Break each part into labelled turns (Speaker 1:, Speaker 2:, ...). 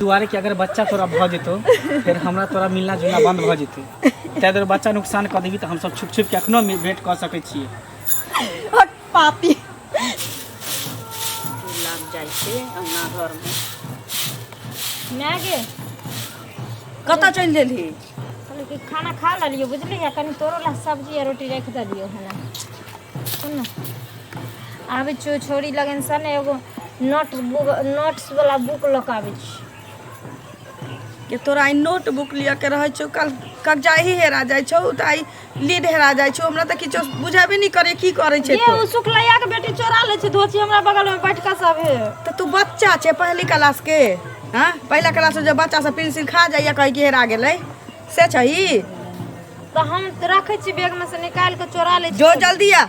Speaker 1: दुआरे कि अगर बच्चा तोरा भऽ जेतौ फेर हमरा तोरा मिलना जुलना बन्द भऽ जेतै ताहि दुआरे बच्चा नुकसान कऽ देबी तऽ हमसभ छुप छुपके एखनो मे- भेँट कऽ सकै छियै हट
Speaker 2: पापी लाग
Speaker 3: जाइ
Speaker 4: छै अंगना
Speaker 2: घरमे माय गे कतऽ चलि देलही कहलियै कि खाना
Speaker 4: खा लेलियौ बुझलियै कनि तोरो लए सब्जी आ रोटी राखि देलियौ हन सुन ने आबै छियौ छोरी लगन सन एगो नोट बुक नोट्सवला बुक लऽ कऽ आबै छी
Speaker 2: कि तोरा ई नोट बुक लिअ के रहै छौ कल कब्जा ही हेरा जाइ छौ तऽ आइ ली ढेरा जाइ छौ हमरा तऽ किछो बुझेबे नहि करे की करे छै ये उ शुक्लैया के बेटी
Speaker 4: चोरा ले छै धोची हमरा बगल में बैठ के सब हे तऽ तू बच्चा छै
Speaker 2: पहली क्लास के हाँ पहला क्लास में जब बच्चा सब पेंसिल खा जाइए कहे कि हेरा गेलै से छही तऽ
Speaker 4: हम रखे छी बैग में से निकाल के चोरा ले छी जो जल्दी आ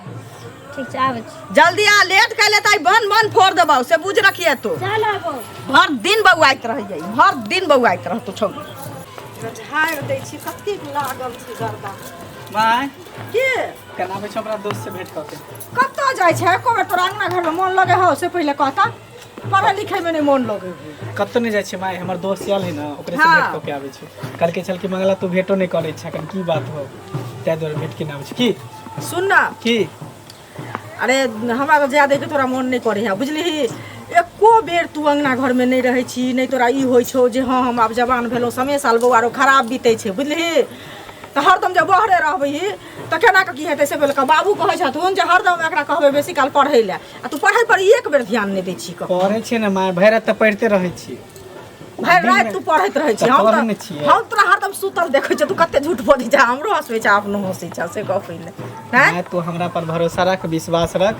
Speaker 2: ठीक
Speaker 4: छै आबै छी जल्दी आ लेट कैले
Speaker 2: तऽ बन बन फोड़ देबौ से बुझ रखिए तू चल आबो भर
Speaker 4: दिन बौआइत
Speaker 2: रहियै भर दिन बौआइत रह तू छौड़ी झाड़ दै छी कते लागल छै गर्दा माय
Speaker 1: के
Speaker 2: केना
Speaker 1: आबै छौ हमरा दोस्त से भेंट कऽ के कतऽ जाइ छै
Speaker 2: एको बेर तोरा अंगना घरमे मोन लगे हौ से पहिले कहता पढ़ै लिखैमे नहि मोन लगै है कतहु नहि जाइ छै माय
Speaker 1: हमर दोस्त आयल है ने ओकरे से हाँ। भेंट कऽ के आबै छै कहलकै छल कि मंगला तू भेंटो नहि करै छै एखन की बात हो ताहि दुआरे भेंट केने आबै छै की सुन ना की
Speaker 2: अरे हमरा तऽ जाए देखै तोरा मोन नहि करै है बुझलिही एको बेर तू अङ्गना घरमे नहि रहै छी नहि तोरा ई होइ छौ जे हँ हम आब जवान भेलहुँ समय साल बौआ आरो खराब बीतै छै बुझलिही तऽ हरदम जे बहरे रहबही तऽ केना कऽ की हेतै से भेल बाबू कहै छथुन जे हरदम एकरा कहबै बेसी काल पढ़ै लए आ तू पढ़ाई पर एक बेर ध्यान नहीं दै छी कहो पढ़ै छियै ने माय भरि
Speaker 1: राति तऽ पढ़िते रहै छियै भाई रात
Speaker 2: तू पढ़त रहे छी हम पढ़ने तो छियै। हम तोरा
Speaker 1: हरदम सुतल
Speaker 2: देखे छी तू कते झूठ बोलै छ हमरो हंसबै छ अपनो हंसै छ से कह पहिले हैं माय तू हमरा पर भरोसा
Speaker 1: रख विश्वास रख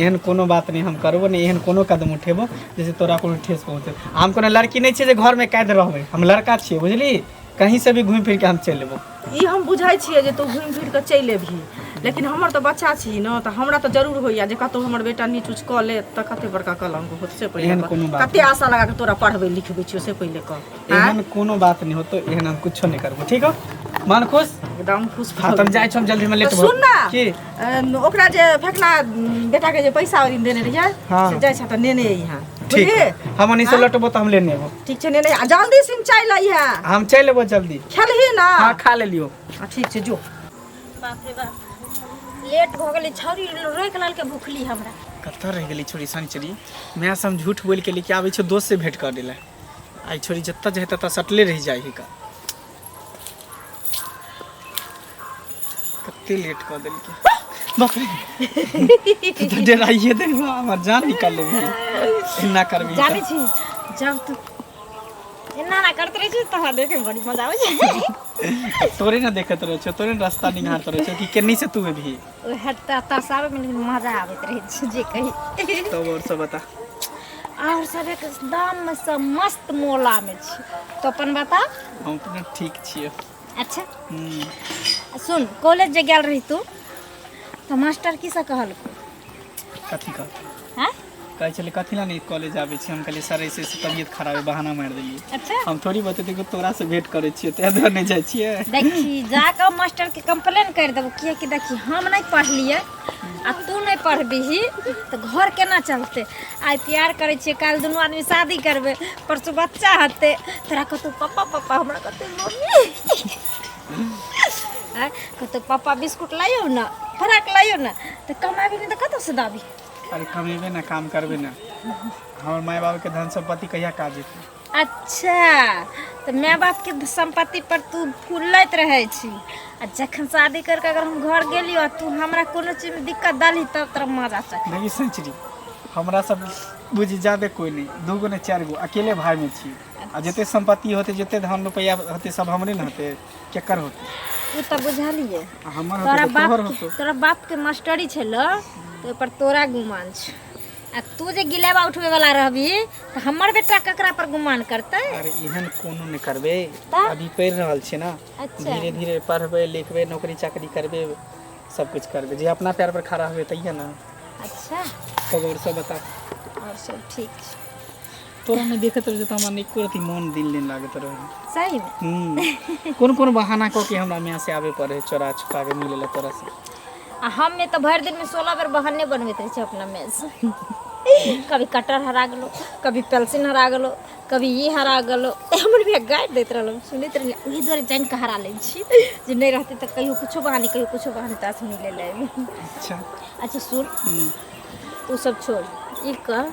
Speaker 1: एहन कोनो बात नहि हम करबो नहि एहन कोनो कदम उठेबो जैसे तोरा कोनो ठेस पहुँचे हम कोनो लड़की नहि छियै जे घरमे कैद रहबै हम लड़का छियै बुझली कहीं से भी घूमि फिर के हम चलि एबो ई हम बुझै
Speaker 2: छियै जे तू घुमि फिर कऽ चलि एबही लेकिन हमर तऽ बच्चा छी ने तऽ हमरा तऽ जरूर होइया जे कतहु हमर बेटा नीच उच कऽ ले तऽ कते बड़का कलंक होत से पहिले एहन कह। कोनो बात कते
Speaker 1: आशा लगा
Speaker 2: कऽ
Speaker 1: तोरा
Speaker 2: पढ़बै लिखबै छियौ से पहिले कह आँय? एहन कोनो बात
Speaker 1: नहीं होतो एहन हम कुछो नहीं करबो ठीक हो मन खुश एकदम खुश हाँ भऽ
Speaker 2: तुम गेलियै। जाए छो हम जल्दी में
Speaker 1: लेट तऽ सुन ना। की
Speaker 2: अम,
Speaker 1: ओकरा जे
Speaker 2: फकना बेटा के जे पैसा ओरिन देने रहिए हाँ। से जाइ छ त नेने
Speaker 1: यहाँ
Speaker 2: ठीक बुझलिए
Speaker 1: हमनी से
Speaker 2: लटबो तऽ हम
Speaker 1: लेने एबो ठीक छै नेने आ जल्दी
Speaker 2: सिम चाय लई है हम चलि एबो जल्दी
Speaker 1: खेलही ना हाँ खा
Speaker 2: लेलियो
Speaker 1: आ, ठीक छै जो बाप
Speaker 2: रे
Speaker 4: बाप लेट भऽ गेलै छौरी रोक लाल के भुखली हमरा कतऽ रहि गेली छोरी
Speaker 1: सनिचरी माय से हम झूठ बोलि के लेके आबै छियो दोस्त से भेंट कर देला आई छोरी जतऽ जाए ततऽ सटले रहि जाइ हिका कते लेट कऽ देलकै बाप रे तू तऽ डराइए दे हमर जान निकाल लेबही एना करबी तऽ। जानै छी
Speaker 4: जब तू एना ना करते रहै छै तहरा देखे बड़ी मजा आबै छै तोरे ने देखत
Speaker 1: रहे छो तोरे ने रास्ता निहारत रहे छो कि केनी से तू एबही ओहे त एतऽ
Speaker 4: से आबै मे लेकिन मजा आबैत रहै छै जे कही तब और सब बता
Speaker 1: और
Speaker 4: सब एकदम मे सब मस्त मोला मे छै तो अपन बता हम अपने ठीक
Speaker 1: छियै अच्छा हम्म,
Speaker 4: आ सुन कॉलेज जे गेल रही तू तऽ मास्टर की सब कहलकौ
Speaker 1: कथी कहत आँय
Speaker 4: कहै छलै कथी
Speaker 1: लए नहि कॉलेज आबै छी हम कहलियै सर ऐसे ऐसे तबियत खराब है बहाना मारि देलियै अच्छा हम थोड़ी बतेतै
Speaker 4: कि
Speaker 1: तोरा से भेंट करै छियै तैं दुआरे नहि जाइ छियै देखी जाकऽ
Speaker 4: मास्टर के कंप्लेन कर देबो किया कि देखी हम नहीं पढ़लिए आ तू नहीं पढ़बीही तो घर केना चलते आइ प्यार करे छे कल दोनों आदमी शादी करबे परसों बच्चा हते तोरा कहतौ पापा पापा हमरा कहतौ मम्मी कहतौ पापा बिस्कुट लाइयो ना फराक लाइयो ना तो कमाबी नहीं तो कतौ से दाबी अरे कमेबे
Speaker 1: ना काम करबे ना हमार माय बाप के धन संपत्ति कहिया काज जेतै अच्छा
Speaker 4: तऽ माय बाप के संपत्ति पर तू फूलैत रहै छी आ जखन शादी करके अगर हम घर गेलियो आ तू हमरा कोनो चीज में दिक्कत डाली तब तोरा मजा चख देखी संचरी
Speaker 1: हमरा सब बुझी जादे कोई नहीं दू गो ने चार गो अकेले भाई में छी आ जते संपत्ति होते जते धन रुपया होते सब हमरे ने होते केकर होतो ओ तऽ बुझलियै
Speaker 4: आ हमर होतो तोरा तऽ बाप
Speaker 1: तोहर के- होतो
Speaker 4: तोरा बाप
Speaker 1: के
Speaker 4: मास्टरी छल तो पर तोरा गुमान छ आ तू जे गिलेबा उठबे वाला रहबी तऽ हमर बेटा ककरा पर गुमान करतै अरे एहन कोनो
Speaker 1: नहि करबे तऽ? अभी पढ़ि
Speaker 4: रहल छियै
Speaker 1: ना अच्छा। धीरे धीरे
Speaker 4: पढ़बे
Speaker 1: लिखबे नौकरी चाकरी करबे सब कुछ करबे जे अपना पैर पर खड़ा हुए तैया ना अच्छा
Speaker 4: खबर सब
Speaker 1: बता और सब ठीक
Speaker 4: छै तोरा नहि
Speaker 1: देखैत रहै तऽ हमरा नहि एको रति मोन दिल नहि लागैत रहै सही
Speaker 4: में हूँ कोन कोन बहाना कऽ
Speaker 1: के हमरा माँ से आबे पड़े है चोरा छुपा के मिले ला तोरा से
Speaker 4: आ हम में तो भर दिन में सोलह बेर बहाने बनबैत रहे छे अपना में से कभी कटर हरा गेलो कभी पेल्सिन हरा गेलो कभी ई हरा गेलो हमर भैया गारि दैत रहलो सुनैत रहिए ओहि दुआरे जानि कऽ हरा लै छी जे नहि रहतै तऽ कहियो कुछो बहाने कहियो कुछो बहाने तास मिले ला एबै अच्छा
Speaker 1: अच्छा सुन
Speaker 4: हूँ तू सब छोड़ ई कह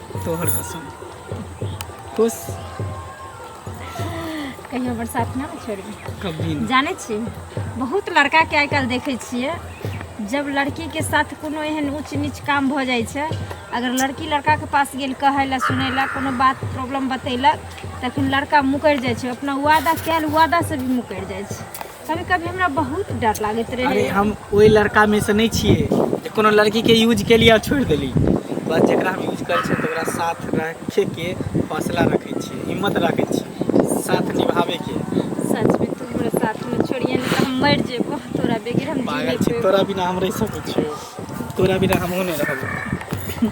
Speaker 4: तोहर कसम
Speaker 1: खुश
Speaker 4: कहियो बरसात ना छोड़ी कभी ना जानै
Speaker 1: छी
Speaker 4: बहुत लड़काके आइ काल्हि देखै छियै जब लड़कीके साथ कोनो एहन ऊँच नीच काम भऽ जाइ छै अगर लड़की लड़काके पास गेल कहै लए सुनै लए कोनो बात प्रॉब्लम बतेलक तखन लड़का मुकरि जाइ छै अपना वादा कयल वादासँ भी मुकरि जाइ छै कभी कभी हमरा बहुत डर लागत रहे अरे हम ओहि लड़का
Speaker 1: में से नहीं छिए जे कोनो लड़की के यूज के लिए छोड़ देली बस जरा हम यूज कर छियै साथ रखे के हौसला रखे छियै हिम्मत रखे छियै साथ निभावे के सच में तू
Speaker 4: हमरा साथ में छोड़िए नहीं तो हम मर जेबो तोरा बेगर हम पागल छी तोरा बिना हम
Speaker 1: रह
Speaker 4: सके
Speaker 1: छियो तोरा बिना हम नहीं रहबो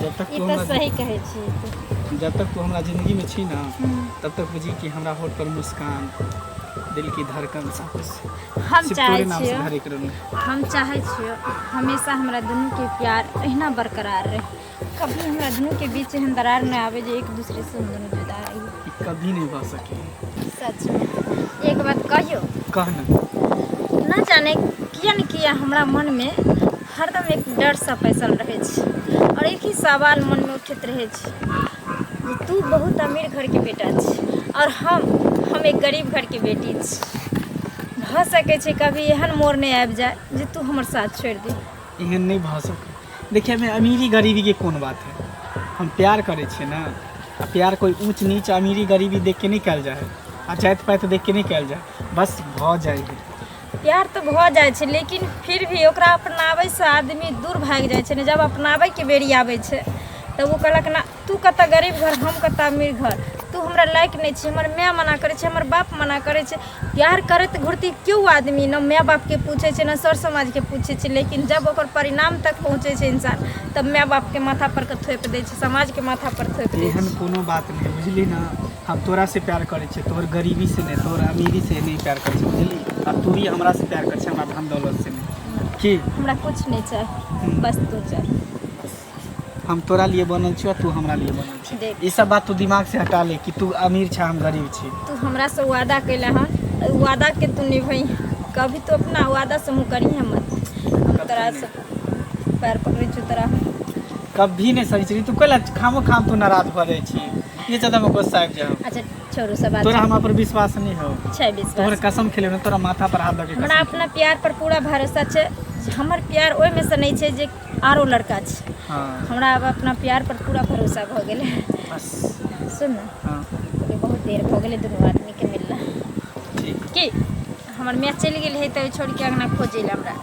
Speaker 1: जब तक ई तू तऽ हमरा सही कहै छी
Speaker 4: तू जब तक तू हमरा जिंदगी
Speaker 1: में छी ना तब तक बुझी कि हमरा होठ पर मुस्कान दिल की धड़कन सब कुछ हम सिर्फ चाहै तोरे नाम से
Speaker 4: छियै भरे
Speaker 1: के रहूं
Speaker 4: हम
Speaker 1: चाहै
Speaker 4: छियै हमेशा हमरा दुनू के प्यार एहिना बरकरार रहे कभी हमरा दुनू के बीच एहन दरार नहि आवे जे एक दूसरे से हम दुनू जुदा रही कि कभी नहीं भा
Speaker 1: सके सच में
Speaker 4: एक बात कहियो कहना
Speaker 1: ना जाने
Speaker 4: किया न किया हमरा मन में हरदम एक डरसँ बैसल रहै छै आओर एक ही सवाल मनमे उठैत रहै छै जे तू बहुत अमीर घरके बेटा छी आओर हम हम एक गरीब घरके बेटी छी भऽ सकै छै कभी एहन मोड़ नहि आबि जाय जे तू हमर साथ छोड़ि दे एहन नहि भऽ
Speaker 1: सकै देखिए एहिमे अमीरी गरीबीके कोन बात है हम प्यार करै छियै ने आ प्यार कोइ ऊँच नीच अमीरी गरीबी देख के नहि कयल जाइ है आ जाति पाति देख के नहि कयल जाइ है बस भऽ जाइ है प्यार तऽ भऽ
Speaker 4: जाइ छै लेकिन फिर भी ओकरा अपनाबैसँ आदमी दूर भागि जाइ छै ने जब अपनाबैके बेरी आबै छै तब ओ कहलक ने तू कतऽ गरीब घर हम कतऽ अमीर घर तू हमरा लायक नहि छी हमर माय मना करै छै हमर बाप मना करै छै प्यार करैत घुरती केओ आदमी ने माय बापके पूछै छै ने सर समाजके पूछै छै लेकिन जब ओकर परिणाम तक पहुँचै छै इंसान तब माय बापके माथापर के थोपि दै छै समाजके माथापर थोपि दै छै एहन कोनो बात नहि
Speaker 1: बुझली ने हम तोरा से प्यार करे छे तोर गरीबी से नहीं तोर अमीरी से नहीं प्यार करे छे बुझली आ तू ही हमरा से प्यार करे छे हमरा धन दौलत से नहीं की हमरा कुछ नहीं
Speaker 4: चाहे बस तू चाहे
Speaker 1: हम तोरा लिए बनल छियो तू हमरा लिए बनल छी देख। ई सब बात तू दिमाग
Speaker 4: से
Speaker 1: हटा ले कि तू अमीर छे हम गरीब छी तू हमरा से वादा
Speaker 4: कैला है और वादा के तू निभाई कभी तो अपना वादा से मुँह करी है मत हम तोरा से पैर पकड़े छू तोरा कभी
Speaker 1: नहीं सही छी तू कैला खामो खाम तू नाराज भऽ जाइ छी ये ज्यादा में गुस्सा आबि जाओ अच्छा छोड़ू सब बात
Speaker 4: तोरा हमरा पर विश्वास
Speaker 1: नहीं हो छै तोहर विश्वास कसम
Speaker 4: खेले
Speaker 1: ना तोरा
Speaker 4: माथा
Speaker 1: पर हाथ लगे हमरा अपना प्यार पर पूरा
Speaker 4: भरोसा छै हमर प्यार ओहिमे से नहि छै जे आरो लड़का छै हाँ हमरा आब
Speaker 1: अपना प्यार
Speaker 4: पर पूरा भरोसा भऽ गेलै बस
Speaker 1: सुन ने
Speaker 4: हाँ अभी बहुत
Speaker 1: देर
Speaker 4: भऽ गेलै दुनू आदमीके मिलला ठीक
Speaker 1: की
Speaker 4: हमर मैच चलि गेल है तऽ छोड़ के अंगना खोजै लए हमरा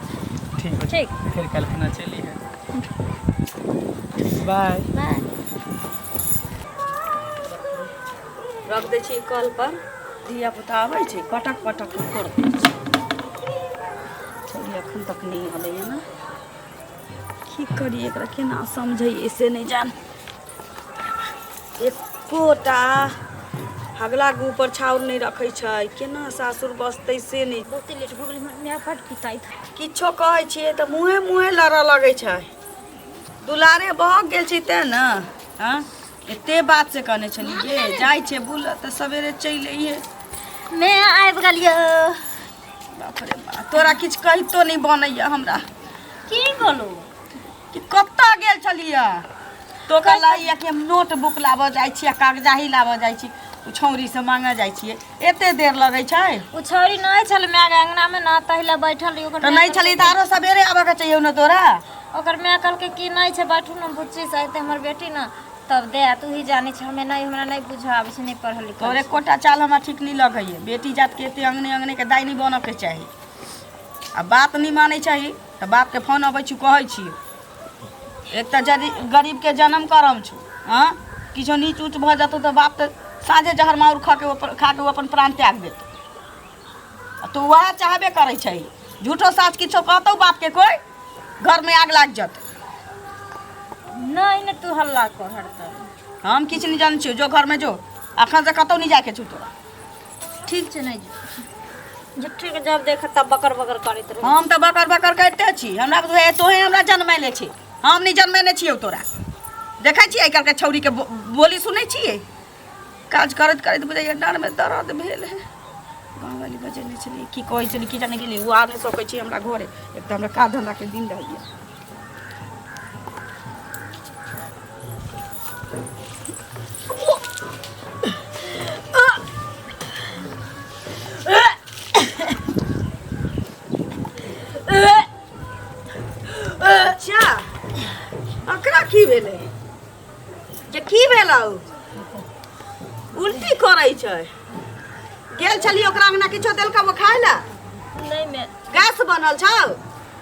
Speaker 4: ठीक हो ठीक
Speaker 1: फिर कल्पना
Speaker 4: चली
Speaker 1: है बाय बाय
Speaker 3: रख दै छी कल पर धिया पुता आबै छै पटक पटक के फोड़ दै छै चलिए एखन तक नहि हलैए ने की करी एकरा केना समझैए से नहि जान एकोटा हगला के ऊपर छाउर नहि रखै छै केना सासुर बसतै से नहि बहुते लेट भऽ गेलै हमरा
Speaker 4: फट पिताई था किछो कहै छियै
Speaker 3: तऽ मुँहे मुँहे लड़ऽ लगै छै दुलारे भऽ गेल छै तेँ ने हँ एते बात से कहने छली जे जाइ छै बुल तऽ सवेरे चलि अइहे मैं
Speaker 4: आबि गेलियो बाप
Speaker 3: रे बा तोरा किछु कहितो नहि बनैया हमरा की
Speaker 4: बोलू कि
Speaker 3: कतऽ गेल छलियै तो कहला कि हम नोट बुक लाबऽ जाइ छियै कागजाही लाबऽ जाइ छी ओ छौरी से मांगऽ जाइ छियै एते देर लगै छै ओ छौरी नहि छल
Speaker 4: माय के अंगना में ना तहिले बैठल रही ओकर तऽ माय नहि छली तऽ आरो
Speaker 3: सबेरे आबऽ के चाहिए ने तोरा कहलकै- ओकर माय कहलकै
Speaker 4: कि नहि छै बैठू ने बुच्ची से अयतै हमर बेटी ने तब दे आ तू ही जानै छै हमे नहि हमरा नहि बुझऽ आबै छै नहि पढ़ल लिखल तोरे कोटा चाल हमरा
Speaker 3: ठीक नहीं लगे है बेटी जात के एते अंगने अंगने के दाई नहीं बनऽ के चाही आ बात नहीं मानै चाही तऽ बाप के फोन अबै छी कहै छी एक तऽ जदि गरीबके जनम करम छौ हँ किछो नीच ऊँच भऽ जेतौ तऽ बाप तऽ साँझे जहर माउर खा कऽ ओ अपन- खा कऽ ओ अपन प्राण त्याग देतौ आ तू उएह चाहबे करै छै झूठो साँच किछो कहतौ बापके कोइ घरमे आग लागि जेतौ
Speaker 4: नहि ने तू हल्ला कर हरदम हम किछु नहि जानै छियौ
Speaker 3: जो घरमे जो अखन से कतौ नहि जायके छौ तोरा ठीक छै
Speaker 4: नहि झुट्ठीके जब देख तब बकर बकर करैत रहू हम तऽ बकर बकर करिते
Speaker 3: छी हमरा बुझाइए तोहे हमरा जनमैले छी हम नहि जनमेने छियौ तोरा देखै छियै आइ काल्हिके छौरीके बो- बोली सुनै छियै काज करैत करैत बुझाइए डाँडमे दर्द भेल है गाँववाली बजेने छलियै की कहै छलियै की जाने गेलियै ओ आ नहि सकै छी हमरा घरे एक तऽ हमरा काज धन्धाके दिन रहैए अच्छा एकरा की भेलै जे की भेलौ उल्टी करै छै गेल छली ओकरा अंगना किछो देलका वो खाय लए नहीं मैं
Speaker 4: गैस बनल छौ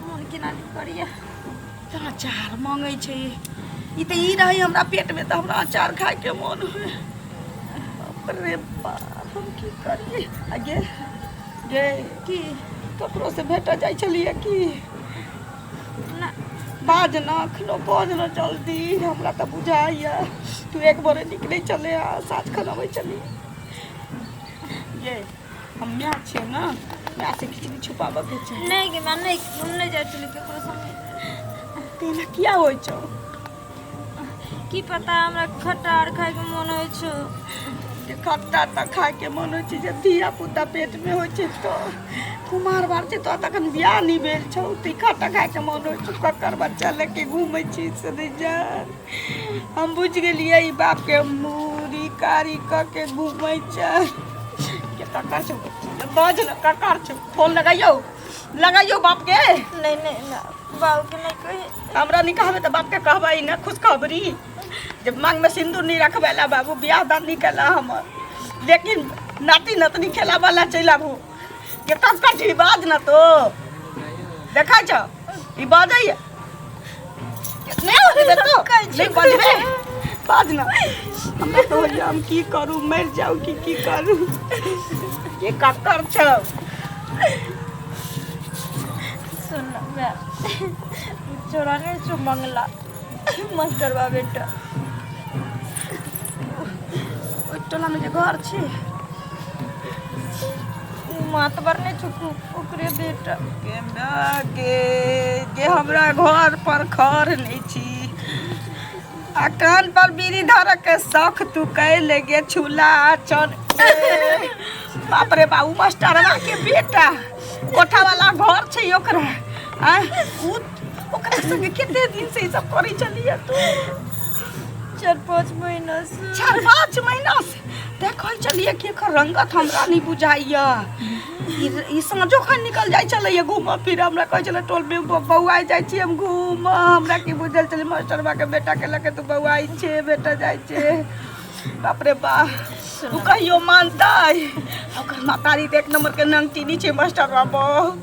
Speaker 4: मोन केना नहि करैए तऽ
Speaker 3: अचार मङ्गै छै ई तऽ ई रहै हमरा पेटमे तऽ हमरा अचार खायके मोन होइ बाप रे बाप हम की करिए आगे गे की ककरोसँ भेटऽ जाइ छलियै की
Speaker 4: ना बाज
Speaker 3: न एखनो बाज न जल्दी हमरा तऽ बुझाइए तू एक बारे निकलै चले आ साँझ खन अबै छली गे हम माय छियै ने माय से किछु भी छुपाबऽ के छै नहि गे माय नहि हम
Speaker 4: नहि जाइ छलियै ककरो संगे तेना किया
Speaker 3: होइ छौ
Speaker 4: की पता हमरा खट्टा आर खायके मोन होइ छौ जे
Speaker 3: खट्टा तऽ खायके मन होइ छै जे धिया पुता पेटमे होइ छै तऽ कुमार बार छै तऽ तखन बियाह नहि भेल छौ तऽ ई खट्टा खायके मन होइ छौ ककर बच्चा लेके घूमै छी से नहि जान हम बुझ गेलियै ई बाप के मूड़ी कारी क के घूमै छै के ककर छौ बाज न ककर छौ फोन लगाइयो लगाइयो बाप के नहीं नहीं ना
Speaker 4: बाबू के नहीं कही हमरा नहीं कहबे त बाप के
Speaker 3: कहबै न खुशखबरी जब मांग में सिंदूर नहीं रखबेला बाबू बियाह दान नहीं केला हमर लेकिन नाती नतनी खेला वाला चलि आबू ये तब कट ई बाज ना तो देखै छ ई बाजै ये कितने होते बे तो नहीं बाजबे बाज ना हमरा तो होइया हम की करू मर जाऊ की की करू ये कक्कर छ
Speaker 4: सुन ना मैं छोरा ने जो मंगला मत करवा बेटा
Speaker 3: ओइ टोला में जे घर छी
Speaker 4: उ मातबर ने चुकू ओकरे बेटा केना के
Speaker 3: जे हमरा घर पर खर नहीं छी आ कान पर बीड़ी धरक के शौक तू कैले गे छुला चल बाप रे बाबू मास्टरवा के बेटा कोठा वाला घर छै ओकरा आ उ ओकरा संगे कते दिन से ई सब करै चलिए तू
Speaker 4: चार पाँच महीना से चार पाँच महीना
Speaker 3: से देखै छलियै कि एकर रंगत हमरा नहि बुझाइया ई साँझो खन निकल जाइ छलैया घूमऽ फिरऽ हमरा कहै छलै टोल मे बौआ जाइ छी हम घूमऽ हमरा की बुझल छलै मास्टरबा के बेटा के लके तू बौआ छै बेटा जाइ छै बाप रे बा ओ कहियो मानतै ओकर मातारी एक नंबर के नंगटीनी छै मास्टरबा बहु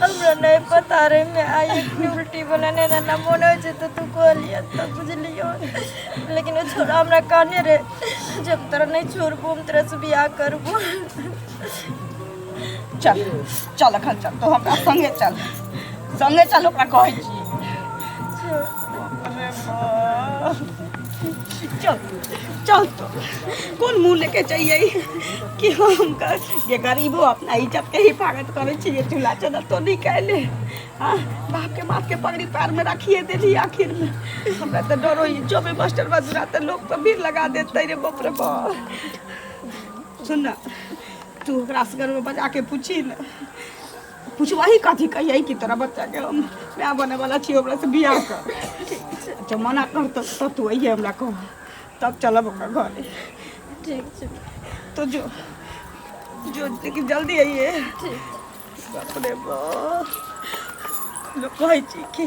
Speaker 3: हमरा नहीं
Speaker 4: पता रहे मैं आई इतनी उल्टी बोला नहीं ना ना मोन हो जे तो तू कह लिया तो बुझलियो लेकिन वो छोरा हमरा कहने रे जब तोरा नहीं छोड़बो हम तेरा से बियाह करबो
Speaker 3: चल चल अखन चल तो हमरा संगे चल संगे चल ओकरा कहै छी चल चल तो कोन मुँह लेके चाहिए कि हम कर ये गरीबो अपना इज्जत के हिफाजत करे छिए चूल्हा चदर तो नहीं कहले हाँ बाप के माथ के पगड़ी पैर में रखिए देली आखिर में हमरा तो डरो ही जो भी मास्टर बजुरा तो लोग पर भीड़ लगा देते रे बाप रे बाप सुन ना तू ओकरा से घर में बजा के पूछी ना कुछ वही कथी कहिए कि तोरा बच्चा के हम माय बने वाला छी ओकरा से बियाह कर अच्छा मना कर तो तब तू अइहे हमरा कह तब चलब ओकरा घरे ठीक छै
Speaker 4: तो जो
Speaker 3: जो लेकिन जल्दी अइहे ठीक बाप रे बाप लोग कहै छी कि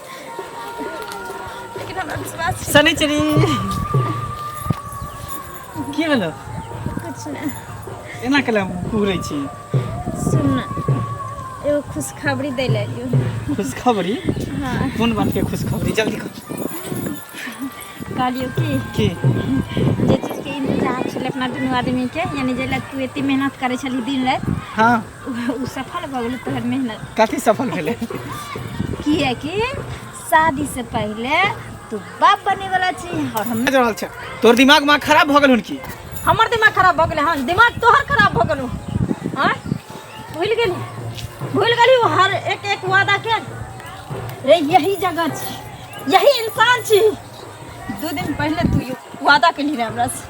Speaker 4: लेकिन हमरा विश्वास छै शनिचरी
Speaker 1: की भेलो कुछ
Speaker 4: नहि एना केला
Speaker 1: कुहरै छी सुन ना,
Speaker 4: एगो खुशखबरी दै लए एलियो खुशखबरी
Speaker 1: हाँ कोन
Speaker 4: बातके खुशखबरी
Speaker 1: जल्दी कह कहलियो
Speaker 4: कि की
Speaker 1: जे
Speaker 4: चीजके इंतजार छलै अपना दुनू आदमीके यानी जे लए तू एते मेहनत करै छली दिन राति हँ
Speaker 1: उ सफल
Speaker 4: भऽ गेलै तोहर मेहनत कथी सफल भेलै
Speaker 1: किएकि
Speaker 4: शादी से पहले तू बाप बने वाला छी और हम बाजि रहल छै तोर दिमाग
Speaker 1: माग खराब भऽ गेल हन की हमर दिमाग खराब
Speaker 4: भऽ गेलै हँ दिमाग तोहर खराब भऽ गेलौ हँ भूल गेली भूल गेली वो हर एक एक वादा के रे यही जगह छी यही इंसान छी दू दिन पहले तू यू वादा केली रहे हमरा से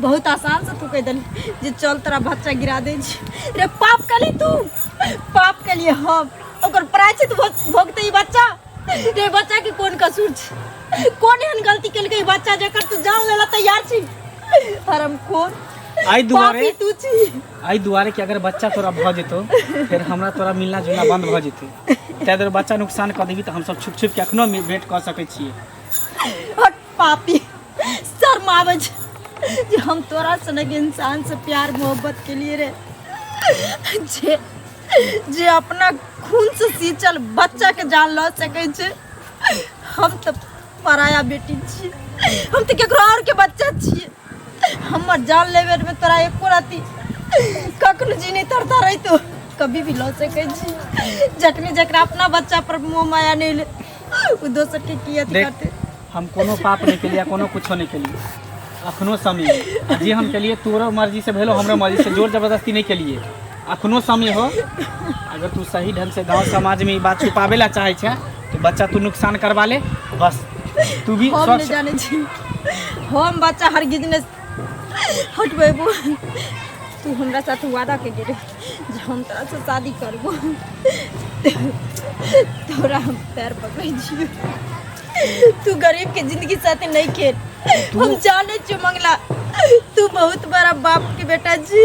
Speaker 4: बहुत आसान से तू कह दिल जे चल तोरा बच्चा गिरा दे छी रे पाप कली तू पाप के लिए हम ओकर प्रायचित भो- भोगते ही बच्चा रे बच्चा के कोन कसूर छी कोन एहन गलती केलकै ई बच्चा जकर तू जान लेला तैयार छी हरम खोर आई दुआरे
Speaker 1: पापी तू छी
Speaker 4: आई दुआरे कि अगर
Speaker 1: बच्चा तोरा भऽ जेतौ फेर हमरा तोरा मिलना जुलना बन्द भऽ जेतै ताहि दुआरे बच्चा नुकसान कऽ देबी तऽ हमसभ छुप छुप के एखनो वेट कऽ सकै छियै हट
Speaker 4: पापी शर्म आवे छै जे हम तोरा सनक इंसान से प्यार मोहब्बत के लिए रे जे जे अपना खून से सींचल बच्चा के जान लऽ सकै छै हम तऽ पराया बेटी छी हम तऽ केकरो और के बच्चा छी हमर जान लेबे में तोरा एको राति कखनो जी नहीं तरता रही तो कभी भी लऽ सकै छी जखने जकरा अपना बच्चा पर मोह माया नहीं ले ओ दोसर के की अथी देख करते हम कोनो पाप
Speaker 1: नहीं केलिए कोनो कुछो नहीं केलिए अखनो समय है। जे हम केलिए तोरो मर्जी से भेलो हमरो मर्जी से जोर जबरदस्ती नहीं केलिए अखनो समय हो अगर तू सही ढंग से गांव समाज में ई बात छुपावे ला चाहे छे तो बच्चा तू नुकसान करवा ले बस तू भी हम नहीं स्वच्छ जाने छी
Speaker 4: हम बच्चा हर गिजने हटबेबो तू हमरा साथ वादा के गेले जे हम तोरा से शादी करबो तोरा हम पैर पकड़े छियो तू गरीब के जिंदगी साथे नहीं खेल हम जाने छियो मंगला तू बहुत बड़ा बाप के बेटा छी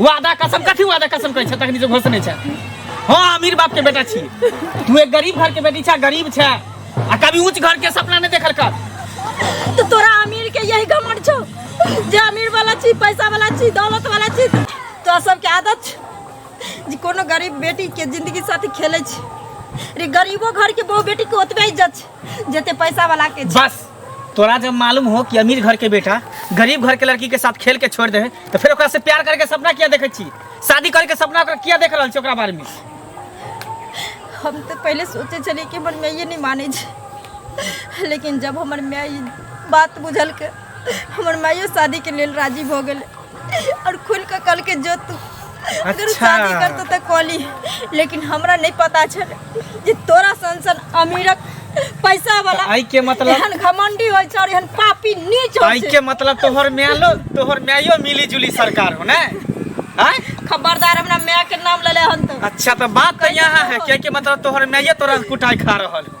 Speaker 1: वादा कसम कथी वादा कसम कहै छै तखनी से घोष नहि छै हाँ अमीर बाप के बेटा छी तू एक गरीब घर के बेटी छै गरीब छै आ कभी ऊंच घर के सपना नहीं देखल कर
Speaker 2: तो तोरा अमीर के यही घमंड छौ जे अमीर वाला छी पैसा वाला छी दौलत वाला छी तो सबके आदत छै जे कोनो गरीब बेटी के जिंदगी साथे खेले छी रे गरीबो घर के बहु बेटी के ओतबे इज्जत छै जते पैसा वाला के छै। बस तोरा जब
Speaker 1: मालूम हो कि अमीर घर के बेटा गरीब घर के लड़की के साथ खेल के छोड़ दे है तो फिर ओकरा से प्यार करके सपना किया देखे छी शादी करके सपना ओकरा किया देख रहल छी ओकरा बारे में
Speaker 2: हम तऽ पहिले सोचै छलियै कि हमर माइए नहि मानै छै लेकिन जब हमर माय ई बात बुझलकै हमर माइयो शादीके लेल राजी भऽ गेलै और खुल के कल के जो तू अगर अच्छा। शादी करतो त कॉली लेकिन हमरा नहीं पता छल जे तोरा सन सन अमीरक पैसा वाला आई के मतलब एहन
Speaker 1: घमंडी होय छ
Speaker 2: और एहन पापी नीच होय आई के छ मतलब तोहर म्यालो
Speaker 1: तोहर म्यायो मिली जुली सरकार हो ना आय खबरदार हमरा
Speaker 2: माय के नाम लेले हन तो अच्छा तो बात तो यहाँ
Speaker 1: है क्या के मतलब तोहर म्याये तोरा कुटाई खा रहल हो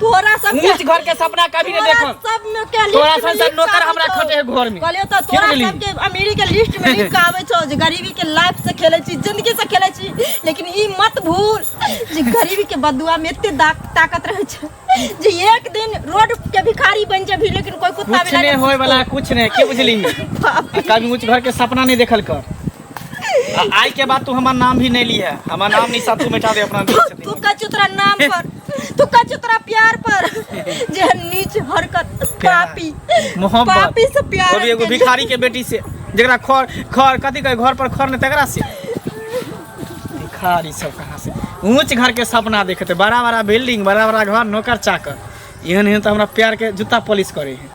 Speaker 1: तोरा सब के- ऊंच घर
Speaker 2: के सपना कभी
Speaker 1: नहीं तोरा देखम सब में के लिस्ट तोरा में
Speaker 2: सन से लिस्ट नौकर आबै
Speaker 1: हमरा छौ। खटे है घर में कहलियो तऽ की तोरा बुझली? सब के
Speaker 2: अमीरी के लिस्ट में लिख के आबै छौ जे गरीबी के लाइफ से खेलै छी जिंदगी से खेलै छी लेकिन ई मत भूल जे गरीबी के बदुआ में एते दाक- ताकत रहै छै जे एक दिन रोड के भिखारी बन जेबही लेकिन कोई कुत्ता कुछ बिलाइ नहीं होए वाला कुछ
Speaker 1: नहीं के बुझली बाप आ कभी ऊंच घर के सपना नहीं देखल कर आ- आइ के बाद तू हमार नाम भी नहीं ली है हमार नाम नहीं साथ तू मिटा दे अपना दिल से तू दिमाग। कच्चू तोरा नाम
Speaker 2: पर तू कच्चू तोरा प्यार पर जे नीच हरकत पापी मोहब्बत पापी
Speaker 1: से प्यार वो भी
Speaker 2: एगो भिखारी के
Speaker 1: बेटी से जरा खर खर कथी कहे घर पर खर ने तकरा से भिखारी सब कहाँ से ऊंच घर के सपना देखते बड़ा बड़ा बिल्डिंग बड़ा बड़ा घर नौकर चाकर एहन एहन तो हमरा प्यार के जूता पॉलिश करे है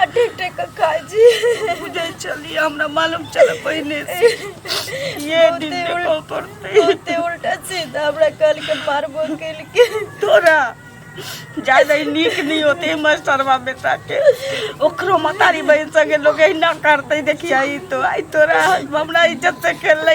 Speaker 2: आ ठीक ठीक के खाई जी बुझे चली
Speaker 3: हमरा मालूम चल पहिने से ये दिन बहुते उल- देखो पड़ते बहुते उल्टा
Speaker 2: सीधा हमरा कल के मारबो कल के तोरा
Speaker 3: ज्यादा ही नीक नहीं होते मास्टरवा बेटा के ओकरो मतारी बहन संगे लोग ना करते देखिया ई तो आई तोरा हमरा इज्जत से खेल ले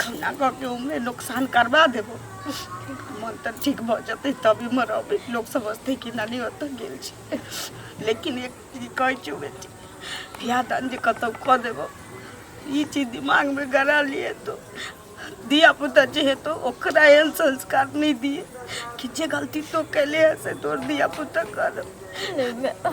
Speaker 3: खौना कऽ के ओमे नुकसान करबा देबो मन तऽ ठीक भऽ जेतै तभी मरबै लोक समझतै कि नानी ओतऽ गेल छै लेकिन एक चीज कहै छियौ बेटी बियाह दान जे कतौ कऽ देबो ई चीज दिमागमे गड़ा लिए तो धिया पुता जे हेतौ ओकरा एहन संस्कार नहि दिए कि जे गलती तो केले है से तोर धिया पुता करब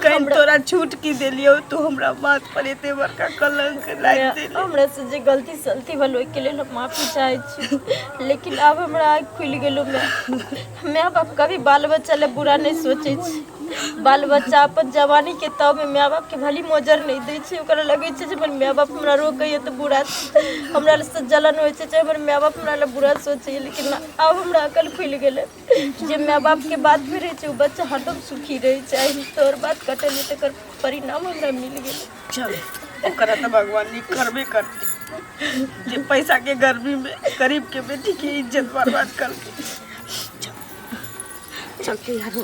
Speaker 3: कहीं तोरा छूट की देलियो तू हमरा बात पर एते बड़का कलंक लाग देली हमरा से जे गलती
Speaker 2: सलती भल ओहि के लेल हम माफी चाहे छी लेकिन अब हमरा आँख खुलि गेलो मैं माँ बाप कभी बाल बच्चा ले बुरा नहीं सोचे छी बाल बच्चा अपन जवानी के तब में माँ बाप के भली मोजर नहीं दे छी ओकरा लगे छै जे हमर माँ बाप हमरा रोकैए तऽ बुरा हमरा से जलन होइ छै जे हमर माँ बाप हमरा ले बुरा सोचैए लेकिन आब हमरा अकल खुलि गेलै जे माय बापके बात भी रहै छै ओ बच्चा हरदम सुखी रहै छै आइ तोहर बात कटलियै तकर परिणाम हमरा मिल गेल चल
Speaker 3: ओकरा तऽ भगवान नीक करबे करतै जे पैसाके गर्मीमे गरीबके बेटीके इज्जत बर्बाद करतै चलते यारो